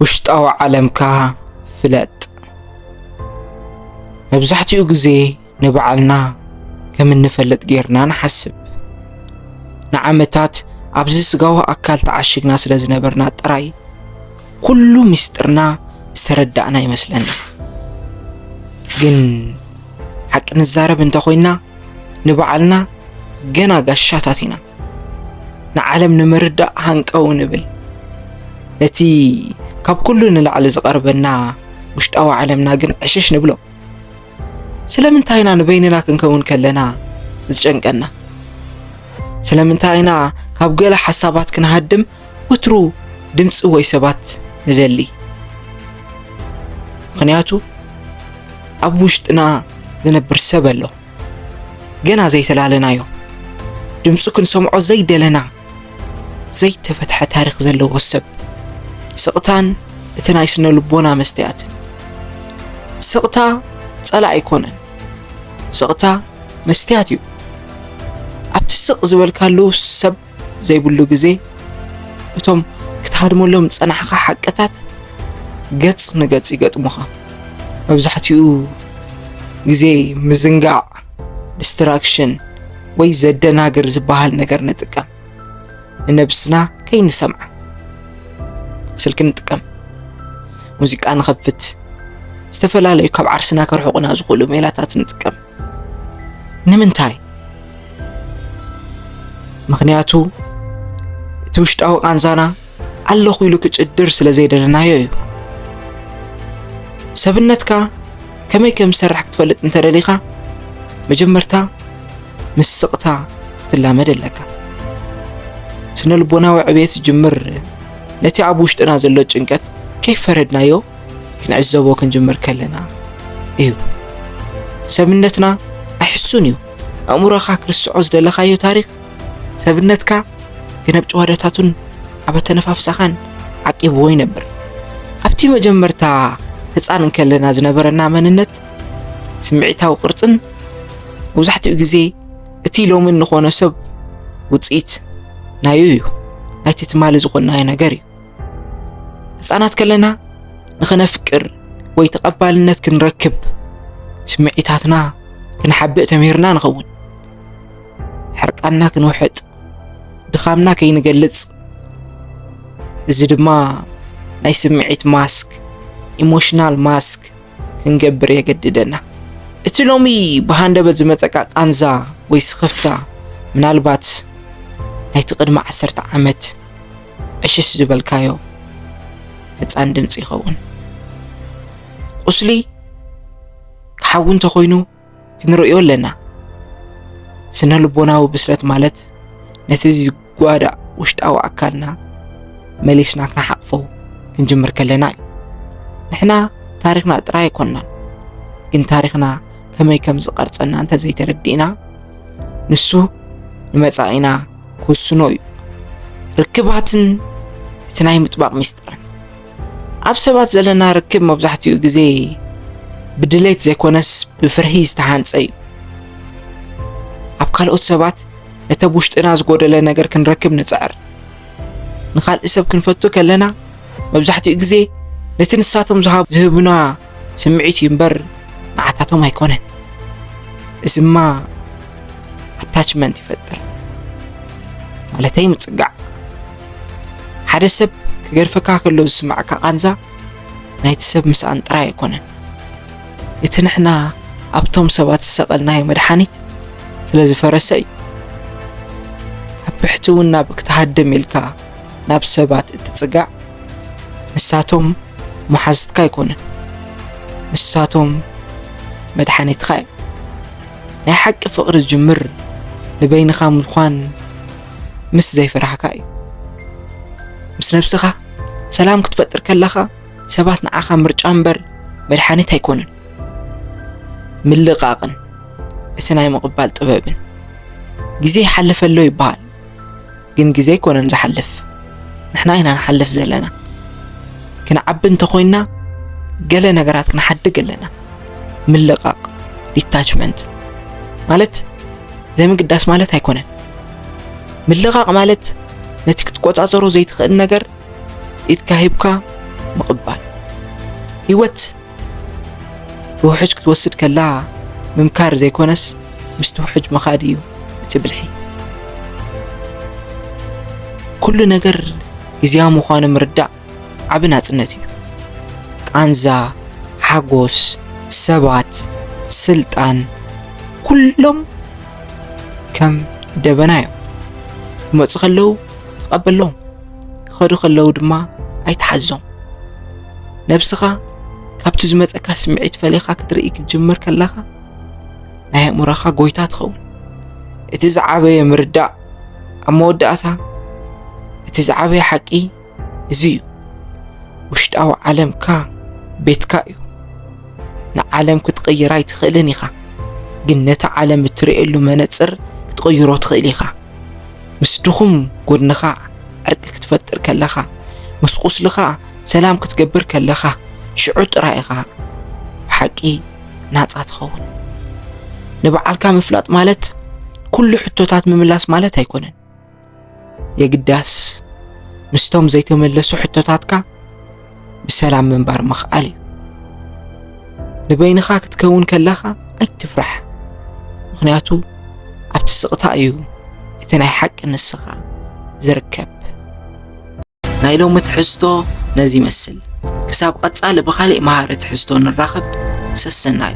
ውሽጣዊ ዓለምካ ፍለጥ። መብዛሕትኡ ግዜ ንባዕልና ከም እንፈልጥ ጌርና ንሓስብ። ንዓመታት ኣብዚ ስጋዊ ኣካል ተዓሽግና ስለ ዝነበርና ጥራይ ኩሉ ምስጢርና ዝተረዳእና ይመስለና። ግን ሓቂ ንዛረብ እንተኾይና ንባዕልና ገና ጋሻታት ኢና። ንዓለም ንምርዳእ ሃንቀው ንብል። ነቲ ካብ ኩሉ ንላዕሊ ዝቐርበና ውሽጣዊ ዓለምና ግን ዕሽሽ ንብሎ። ስለምንታይ ኢና ንበይንና ክንከውን ከለና ዝጨንቀና? ስለምንታይ ኢና ካብ ገለ ሓሳባት ክንሃድም ወትሩ ድምፂ ወይ ሰባት ንደሊ? ምክንያቱ ኣብ ውሽጥና ዝነብር ሰብ ኣሎ። ገና ዘይተላለናዮ ድምፁ ክንሰምዖ ዘይደለና ዘይተፈትሐ ታሪክ ዘለዎ ሰብ ስቕታን እቲ ናይ ስነ ልቦና መስተያትን ስቕታ ጸላእ ኣይኮነን ስቕታ መስትያት እዩ ኣብቲ ስቕ ዝበልካሉ ሰብ ዘይብሉ ግዜ እቶም ክትሃድመሎም ዝጸናሕካ ሓቅታት ገጽ ንገጽ ይገጥሙኻ። መብዛሕትኡ ግዜ ምዝንጋዕ፣ ዲስትራክሽን፣ ወይ ዘደናግር ዝበሃል ነገር ንጥቀም። ንነብስና ከይንሰምዓ ስልኪ ንጥቀም፣ ሙዚቃ ንኸፍት፣ ዝተፈላለዩ ካብ ዓርስና ከርሕቑና ዝኽእሉ ሜላታት ንጥቀም። ንምንታይ ምክንያቱ እቲ ውሽጣዊ ቃንዛና ኣለኹ ኢሉ ክጭድር ስለ ዘይደለናዮ እዩ ሰብነትካ ከመይ ከም ዝሰርሕ ክትፈልጥ እንተደሊኻ መጀመርታ ምስ ስቕታ ትላመድ ኣለካ ስነ ልቦናዊ ዕብየት ዝጅምር ነቲ ኣብ ውሽጥና ዘሎ ጭንቀት ከይፈረድናዮ ክንዕዘቦ ክንጅምር ከለና እዩ። ሰብነትና ኣይሕሱን እዩ። ኣእምሮኻ ክርስዖ ዝደለኻዮ ታሪኽ ሰብነትካ ግን ኣብ ጭዋዳታቱን ኣብ ኣተነፋፍሳኻን ዓቂብዎ ይነብር። ኣብቲ መጀመርታ ህፃን እንከለና ዝነበረና መንነት ስምዒታዊ ቅርፅን መብዛሕትኡ ግዜ እቲ ሎሚ እንኾነ ሰብ ውፅኢት ናዩ እዩ ናይቲ ትማሊ ዝኾናዮ ነገር እዩ። ህፃናት ከለና ንኸነፍቅር ወይ ተቐባልነት ክንረክብ ስምዒታትና ክንሓብእ ተምሂርና ንኸውን። ሕርቃና ክንውሕጥ፣ ድኻምና ከይንገልጽ፣ እዚ ድማ ናይ ስምዒት ማስክ ኢሞሽናል ማስክ ክንገብር የገድደና። እቲ ሎሚ ብሃንደበት ዝመፀቃ ቃንዛ ወይ ስኽፍታ ምናልባት ናይቲ ቅድሚ ዓሰርተ ዓመት ዕሽሽ ዝበልካዮ ሕፃን ድምፂ ይኸውን ቁስሊ ክሓዊ እንተኾይኑ ክንርእዮ ኣለና ስነ ልቦናዊ ብስለት ማለት ነቲ ዝጓዳእ ውሽጣዊ ኣካልና መሊስና ክንሓቕፎ ክንጅምር ከለና እዩ ንሕና ታሪኽና ጥራይ ኣይኮንናን ግን ታሪኽና ከመይ ከም ዝቐርፀና እንተዘይተረዲእና ንሱ ንመፃኢና ክውስኖ እዩ። ርክባትን እቲ ናይ ምጥባቕ ሚስጥርን ኣብ ሰባት ዘለና ርክብ መብዛሕትኡ ግዜ ብድሌት ዘይኮነስ ብፍርሂ ዝተሃንጸ እዩ። ኣብ ካልኦት ሰባት ነቲ ኣብ ውሽጥና ዝጎደለ ነገር ክንረክብ ንጽዕር። ንኻልእ ሰብ ክንፈቱ ከለና መብዛሕትኡ ግዜ ነቲ ንሳቶም ዝሃቡ ዝህቡና ስምዒት እዩ እምበር ንዓታቶም ኣይኮነን። እዝማ ኣታችመንት ይፈጥር ማለተይ ምጽጋዕ። ሓደ ሰብ ክገርፈካ ከሎ ዝስማዕካ ቃንዛ ናይቲ ሰብ ምስኣን ጥራይ ኣይኮነን። እቲ ንሕና ኣብቶም ሰባት ዝሰቐልናዮ መድሓኒት ስለ ዝፈረሰ እዩ። ኣብ ብሕትውና ብክትሃድም ኢልካ ናብ ሰባት እትጽጋዕ ንሳቶም መሓዝትካ ኣይኮኑን፣ ንሳቶም መድሓኒትካ እዮም። ናይ ሓቂ ፍቕሪ ዝጅምር ንበይንኻ ምዃን ምስ ዘይፍራህካ እዩ። ምስ ነብስኻ ሰላም ክትፈጥር ከለኻ ሰባት ንዓኻ ምርጫ እምበር መድሓኒት ኣይኮኑን። ምልቓቕን እቲ ናይ ምቕባል ጥበብን ግዜ ይሓልፈ ኣሎ ይበሃል። ግን ግዜ ኣይኮነን ዝሓልፍ ንሕና ኢና ንሓልፍ ዘለና ክንዓቢ እንተኾይንና ገለ ነገራት ክንሓድግ ኣለና ምልቓቕ ዲታችመንት ማለት ዘይምግዳስ ማለት ኣይኮነን ምልቓቕ ማለት ነቲ ክትቆፃፀሮ ዘይትኽእል ነገር ኢድካ ሂብካ ምቕባል ህይወት ብውሕጅ ክትወስድ ከላ ምምካር ዘይኮነስ ምስቲ ውሕጅ ምኻድ እዩ እቲ ብልሒ። ኩሉ ነገር ግዜያዊ ምዃኑ ምርዳእ ዓቢ ናጽነት እዩ። ቃንዛ፣ ሓጎስ፣ ሰባት፣ ስልጣን ኩሎም ከም ደበና እዮም። ክመጹ ከለዉ ተቐበሎም። ክኸዱ ከለዉ ድማ ኣይትሓዞም። ነብስኻ ካብቲ ዝመጸካ ስምዒት ፈሊኻ ክትርኢ ክትጅምር ከለኻ ናይ ኣእምሮኻ ጎይታ ትኸውን። እቲ ዝዓበየ ምርዳእ ኣብ መወዳእታ እቲ ዝዓበየ ሓቂ እዚ እዩ ውሽጣዊ ዓለምካ ቤትካ እዩ ንዓለም ክትቕይራ ኣይትኽእልን ኢኻ ግን ነቲ ዓለም እትርእየሉ መነፅር ክትቕይሮ ትኽእል ኢኻ ምስ ድኹም ጎድንኻ ዕርቂ ክትፈጥር ከለኻ፣ ምስ ቁስልኻ ሰላም ክትገብር ከለኻ፣ ሽዑ ጥራይ ኢኻ ብሓቂ ናጻ ትኸውን። ንበዓልካ ምፍላጥ ማለት ኩሉ ሕቶታት ምምላስ ማለት ኣይኮነን። የግዳስ ምስቶም ዘይተመለሱ ሕቶታትካ ብሰላም ምንባር ምኽኣል እዩ። ንበይንኻ ክትከውን ከለኻ ኣይትፍራሕ፣ ምኽንያቱ ኣብቲ ስቕታ እዩ እቲ ናይ ሓቂ ንስኻ ዝርከብ። ናይ ሎሚ ትሕዝቶ ነዚ ይመስል። ክሳብ ቀጻሊ ብኻሊእ መሃሪ ትሕዝቶ ንራኸብ። ሰሰናዩ!